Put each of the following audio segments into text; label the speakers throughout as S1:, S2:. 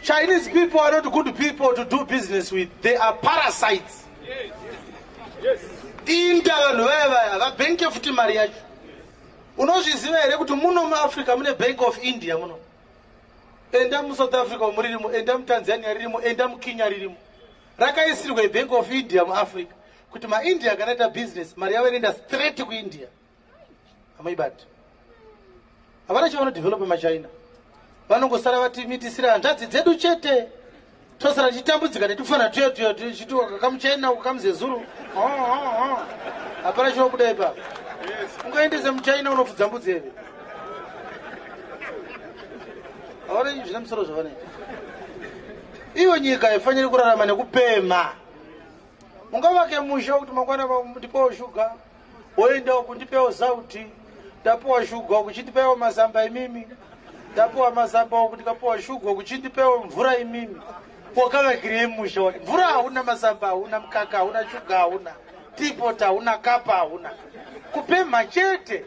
S1: Chinese people are not good people to do business with. They are parasites. Yes.
S2: Yes. Inda
S1: vanhu vaya vaya vabenke futi mari yacho. Unozviziva here kuti muno muAfrica mune Bank of India muno? Enda muSouth Africa umu ririmo, enda muTanzania ririmo, enda muKenya ririmo. Rakaisirwa Bank of India muAfrica kuti maIndia kana ita business mari yavo inoenda straight kuIndia. hamuibati havana chavanodevelope machina vanongosara vati mitisire hanzvadzi dzedu chete tosara tichitambudzika netufana tuyo tuyo tichiti kamuchina uku kamuzezuru hapana chinobuda ipapo ungaendese muchina unofudza mbudzi eve havana zvine musoro zvavanoita iyo nyika haifaniri kurarama nekupema ungavake musha kuti mangwana ndipowo shuga Woenda uku ndipewo sauti. Ndapuwa shuga uku chindipewo mazamba imimi. Ndapuwa mazamba uku ndikapuwa shuga uku chindipewo mvura imimi. Wakavakirei musha wake? Mvura hauna mazamba hauna mkaka hauna shuga hauna. Tipota hauna kapa hauna. Kupemha chete.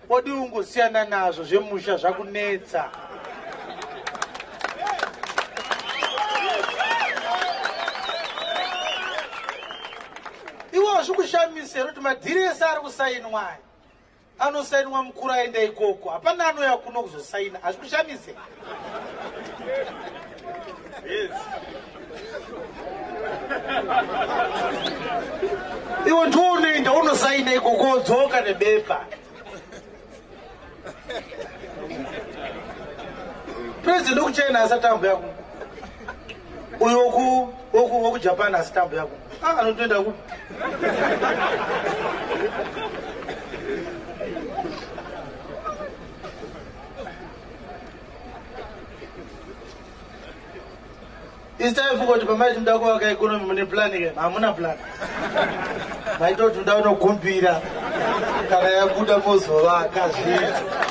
S1: Body ungosiyana nazvo zvemusha zvakunetsa. Iwo zvikushamisa here kuti madhiri ese ari kusainwa aya anosainwa mukuru aenda ikoko hapana anouya kuno kuzosaina hazvikushamise iwe ndiunoenda unosaina ikokodzoka nebepa president wekuchina asati ambuya ku uyo wekujapan asati ambuya ku ah, anotoenda ku It's time for kuti pamaiti muda kuvaka economy mune plan ke hamuna plan. Maitoti muda unogumbira kana yabuda mozovaka zvinhu.